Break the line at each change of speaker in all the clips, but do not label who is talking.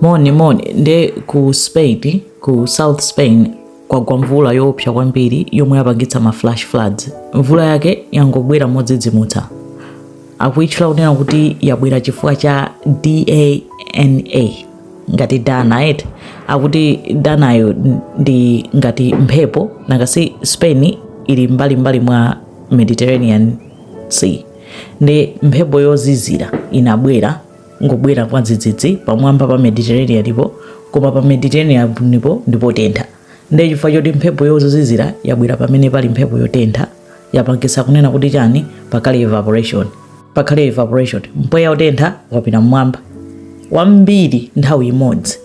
moni moni nde ku spain ku south spain kwagwa mvula yoopsa kwambiri yomwe yapangitsa ma flash floods mvula yake yangobwera modzidzimutsa akuitchula kunena kuti yabwera chifukwa cha dana ngati dana et akuti danayo ndi ngati mphepo nangasi spain ili mbalimbali mwa mediterranean sea nde mphepo yozizira inabwera ngobwera mwadzidzidzi pamwamba pa mediterraneanipo koma pa mediterraneanipo ndi potentha ndiye chifukwa choti mphepo yozizira yabwera pamene pali mphepo yotentha yapangisa kunena kuti chani pakhale evaporation pakhale evaporation mpweya wotentha wapita mmwamba wambiri nthawi imodzi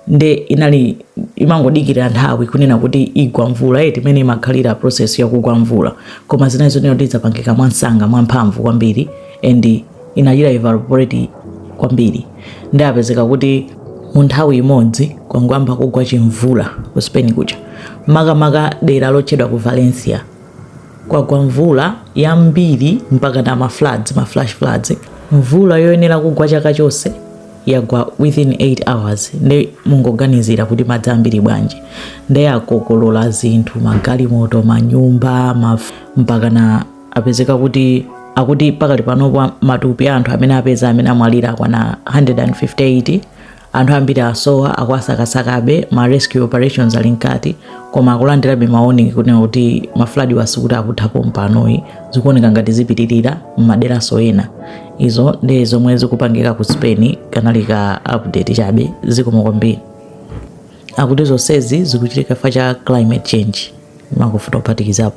nde inali imangodikira nthawi kunena kuti igwa mvula eti imene imakhalira process yakugwa mvula koma zinali zonena kuti idzapangika mwamsanga mwamphamvu kwambiri and inachita evaporate kwambiri ndiye apezeka kuti mu nthawi imodzi kwangoyamba kugwa chimvula ku spain kuja makamaka dera lotchedwa ku valencia kwagwa mvula yambiri mpaka na ma floods ma flash floods mvula yoyenera kugwa chaka chonse yagwa within 8 hours nde mungoganizira kuti madzi ambiri bwanji ndiye akokolola zinthu magalimoto manyumba maf- mpaka na apezeka kuti akuti pakali panopo matupi a anthu amene apeza amene amwalira akwana 158 anthu ambiri asowa akuwasakasakabe ma rescue operations ali mkati koma akulandirabe ma warning kunena kuti ma floodwa sikuti akutha pompanoyi zikuoneka ngati zipitirira m'maderaso ena izo ndi zomwe zikupangika ku spain kanali ka update chabe zikomo kwambiri akuti zonsezi zikuchitika chifukwa cha climate change makufuta ophatikizapo